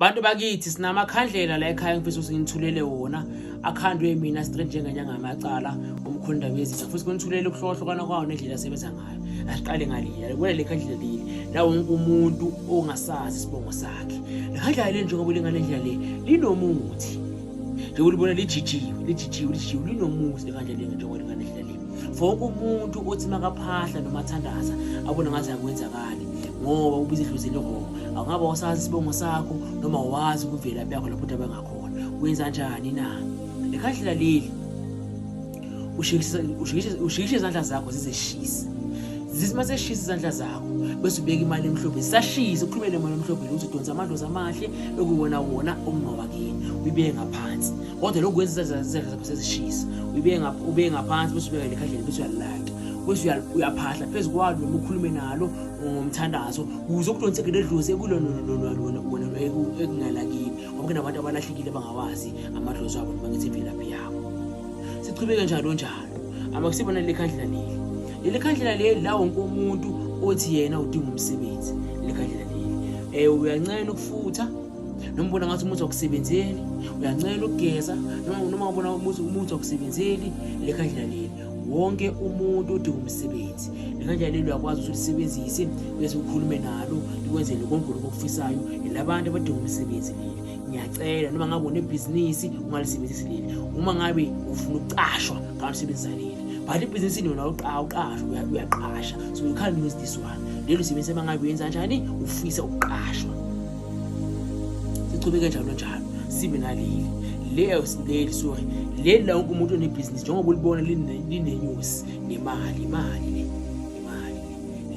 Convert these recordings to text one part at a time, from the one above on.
bantu bakithi sinamakhandlela la ekhaya ngifisa ukuthi nginithulele wona akhandwe mina straight njengenyanga yamacala umkhonda bezitha futhi kunithulele ukuhlokahlukana kwawo nendlela asebenza ngayo asiqale ngalila kubona le khandlela leli la wonke umuntu ongasazi isibongo sakhe le khandlela le njengoba ulingale ndlela le linomuthi njengoba libona lijijiwe lijijiwe lijijiwe linomuthi le khandlela le njengoba ulingale ndlela le for wonke umuntu othi makaphahla noma athandaza abona ngathi akwenzakali ngoba ubiza idlozi elirongo awungaba wasazi isibongo sakho noma wazi ukuvela yakho lapho umuntu abangakhona wenza njani na lekhahlela leli ushikishe izandla zakho zizeshisa zithi uma seshisa izandla zakho bese ubeka imali emhlophe sashisa uqhubele imali emhlophe ukuthi udonsa amadlozi amahle ekuwona wona okungawakini uyibeke ngaphansi kodwa lokhu kwenza izandla zakho sezishisa ubeke ngaphansi bese ubeka lekhandlela bese uyalilata bese uyaphahla phezu kwalo noma ukhulume nalo ngomthandazo kuze okudonseke ledlozi ekulona ekungalakini ngoba kunabantu abalahlekile bangawazi amadlozi abo noma ngithi imvelaphi yabo sichubeke njalo njalo abakusibona leli khandlela leli leli khandlela leli la wonke umuntu othi yena udinga umsebenzi leli khandlela leli um uyancena ukufutha noma ubona ngathi umuthi wakusebenzeli uyancela ukugeza noma ubona ukuthi umuthi wakusebenzeli le khandlela leli wonke umuntu udinga umsebenzi le khandlela leli uyakwazi ukuthi ulisebenzise bese ukhulume nalo likwenzele konke lokhu okufisayo labantu abadinga umsebenzi leli ngiyacela noma ngabe unebhizinisi ungalisebenzisi leli uma ngabe ufuna ukucashwa ngalisebenzisa leli but ibhizinisi lona awuqasha uyaqasha so you can't use this one lelo sibenzisa uma ngabe uyenza kanjani ufisa ukuqashwa sichubeke njalo njalo sibe naleli leyo leli sorry leli la wonke umuntu onebhizinisi njengoba ulibona linenyusi nemali imali le imali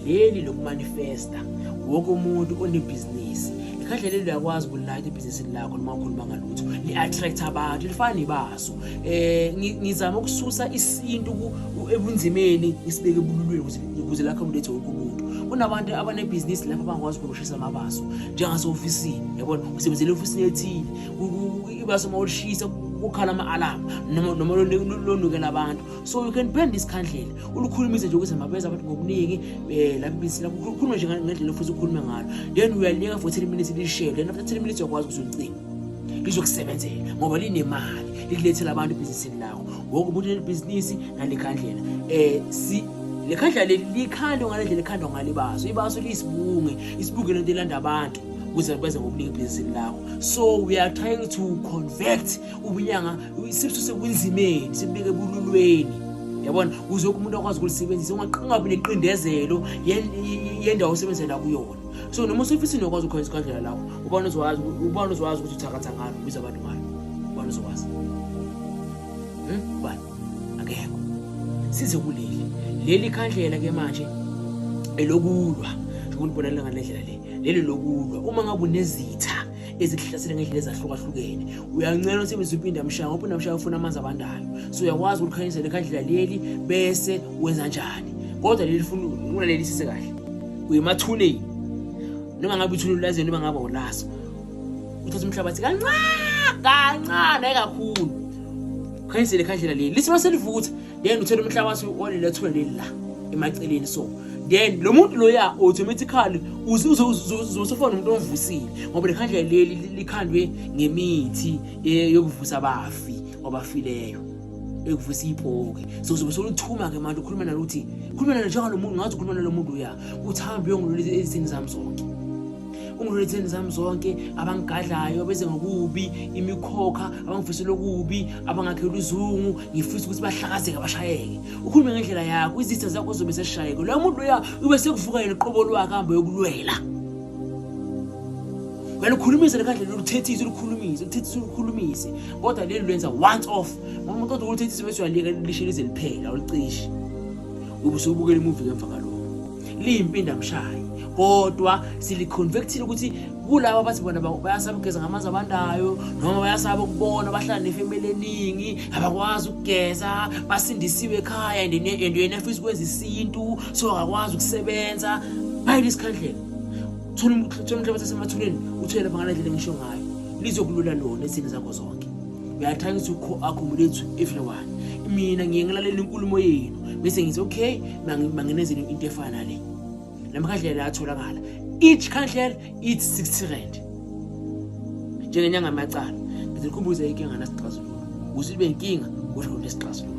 leli lokumanifesta wonke umuntu onebhizinisi kahle leli uyakwazi ukulilayita ibhizinisi lakho noma ukhuluma ngalutho li-attract abantu lifana nebaso um ngizama ukususa isintu ebunzimeni ngisibeke ebululweni ukuze lakhe umlethe wonke umuntu kunabantu abanebhizinisi lapho abangakwazi ushisa amabaso njengasehofisini yabona usebenzela ehofisini ethile ibaso uma ulishisa kukhala ama-alarm noma lonukela abantu so you can bend isikhandlela ulukhulumise nje ukuthi mabenza abantu ngobuningi um eh, labibisela khulume nje ngendlela ofisa ukhulume ngalo then uyalinika for ten minutes lishele then after ten minutes uyakwazi ukuthi ulicinga lizokusebenzela ngoba linemali likulethela abantu ebhizinisini lakho ngoku umuntu unebhizinisi nalikhandlela um eh, si le khandla leli likhandwe ngale ndlela ekhandwa ngalo ibaso ibaso liyisibunge isibunge lento elanda abantu ukuze benze ngokuningi ebhizinisini lakho so we are trying to convert ubunyanga sibususe kunzimeni sibubeke ebululweni yabona kuze umuntu akwazi ukulisebenzisa ungabi neqindezelo yendawo osebenzela kuyona so noma usefisini okwazi ukhonza ikhandlela lakho ubani uzokwazi ubani uzokwazi ukuthi uthakatha ngalo ubiza abantu ngalo ubani uzokwazi hmm? ubani akekho size kuleli leli khandlela ke manje elokulwa ukuthi bonakala ngalendlela le leli lokulwa uma ngabe unezitha ezikuhlasele ngendlela ezahlukahlukene uyancela usebenzisa impinda mshaya ngoba unamshaya ufuna amanzi abandayo so uyakwazi ukulikhanyisa lekhandlela leli bese wenza njani kodwa leli funa unaleli sise kahle uyemathuneni noma ngabe ithuneni lazeni noma ngabe ulaso uthatha umhlabathi kancane kancane kakhulu khanyisele khandlela leli lisima selivutha then uthela umhlabathi olilethwe leli la emaceleni so then lo muntu loya automatically uzosefona umuntu omvusile ngoba lekhandla leli likhandwe ngemithi eh, yokuvusa abafi obafileyo ekuvusa ibhoke so uzobe soluthuma-ke manje ukhuluma nalo ukuthi khuluma nalo njengalo muntu ngathi ukhuluma nalo muntu uya ukuthi hambe uyongilolisa ezithini zami zonke ungiretheni zami zonke abangigadlayo beze ngokubi imikhokha abangifisela okubi abangakhela uzungu ngifisa ukuthi bahlakazeke bashayeke ukhulume ngendlela yakho izitha zakho zobe seshayeke loyo muntu loya ube sekuvuka yena uqobo lwakhe hambe yokulwela wena ukhulumise lekhandlela oluthethise olukhulumise oluthethise olukhulumise kodwa leli lwenza once off ngoba umuntu kodwa oluthethise bese uyaliyeka lishe lize liphela olucishe ube usubukela imuvi ngemva kalokho liyimpindamshayi kodwa siliconvectile ukuthi kulabo abathi bona bayasaba ukugeza ngamanzi abandayo noma bayasaba ukubona bahlala nefemeli eningi abakwazi ukugeza basindisiwe ekhaya and yena afisa ukwenza isintu so akakwazi ukusebenza bayile isikhandlela thola umhlabathi asemathuneni uthwele lapha ngale ndlela engisho ngayo lizokulula lona ezini zakho zonke uyathangisa uku-accommodate everyone mina ngiye ngilalela inkulumo yenu bese ngithi okay manginezeni into efana nale la makhandlela ayatholakala each khandlela ithi 60 rand njengenyanga amacala ngize ngikhumbuze inkinga nasixazululo ukuthi libe inkinga kodwa nesixazululo